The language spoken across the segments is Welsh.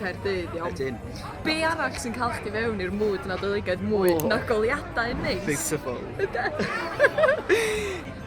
Caerdydd, iawn. Ydyn. Be arall sy'n cael chdi fewn i'r mwyd Nadoligaidd mwy oh. na goliadau neis? Beautiful.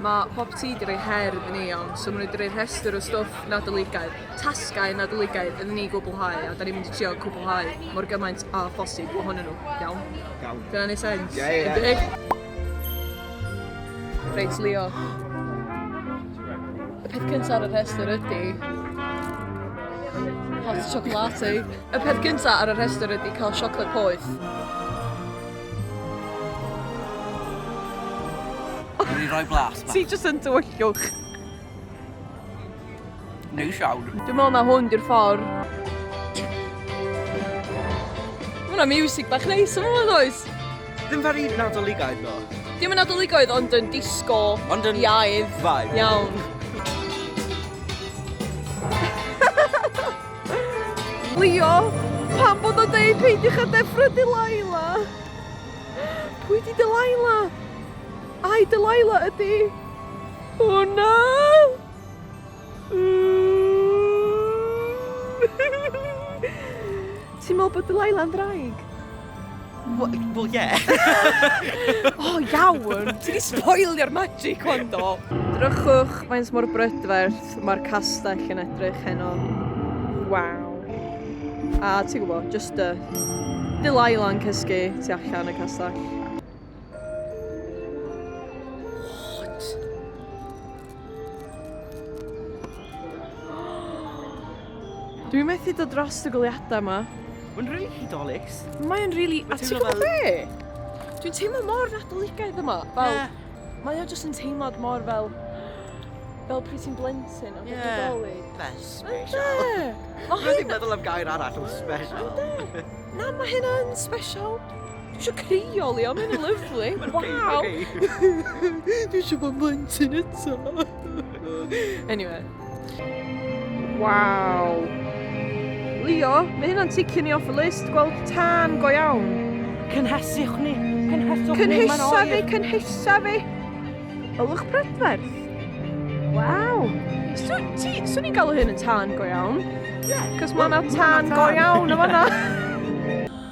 Mae Pop Tea wedi rhoi her iddyn ni iawn, so maen nhw wedi rhoi rhestr o stwff Nadoligaidd, tasgau Nadoligaidd iddyn ni gwblhau, a da ni'n mynd i trio cwblhau mor gymaint a phosib ohonyn nhw, iawn? Iawn. Dyna ni sens. Ie, ie. Reit, Leo. Y peth cyntaf ar y rhestr ydy... Hot chocolate. Y peth cyntaf ar y rhestr ydy cael siocled poeth. Dwi'n rhoi blas, ma. Ti jyst yn dywyllwch. Neis iawn. Dwi'n meddwl na hwn di'r ffordd. Mae hwnna music bach neis yma yn oes? Ddim very nadoligaidd ddo. Dim yn nadoligaidd ond yn disco ond yn iaidd. Vibe. Iawn. Leo, pam bod o'n deud peidiwch â deffro Delilah? Pwy di Delilah? Ai Delilah ydi? O na! Ti'n meddwl bod Delilah yn ddraig? Wel, ie. O, iawn! Ti di spoilio'r magic hwn do! Drychwch faint mor brydferth mae'r castell yn edrych heno. Waw. A ti'n gwybod, just y... Delilah yn cysgu tu allan y castell. Dwi methu dod dros y goliadau yma. Mae'n rili really hudolus. Mae'n rili... Really... A ti'n gwybod be? Dwi'n teimlo mor nadoligaidd yma. Fel, yeah. Mae o jyst yn teimlad mor fel... Fel pryd ti'n blentyn a bod yeah. dolyg. Fe, special. Mae hyn... Dwi'n meddwl am gair arall am special. Ynddo. Na, mae hyn yn special. Dwi eisiau crio, Leo, mae'n lyflu. Waw! Dwi eisiau bod blentyn eto. anyway. Waw. Leo, mae hynna'n ticio ni off y list, gweld tân go iawn. Cynheswch ni, cynheswch ni, mae'n oer. Cynhesa fi, cynhesa fi. Ylwch prydferth. Waw. Swn i'n galw hyn yn tân go iawn. Ie. Yeah. Cos mae yna tân go iawn o fanna.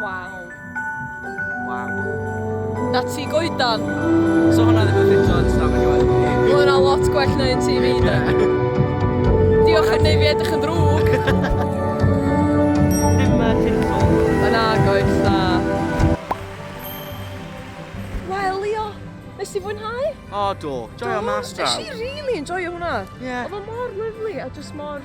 Waw. Waw. Na ti goedan. So hwnna ddim yn ffitio yn stafell i waith. Mae hwnna lot gwell na un TV da. Diolch yn neud fi edrych yn ddrwg. Dim uh, tinsel. Yn agoes da. Wel, Leo, nes i fwynhau? O, oh, do. Joio mas draw. Nes i really enjoyo hwnna. Yeah. Oedd o mor lyflu a just mor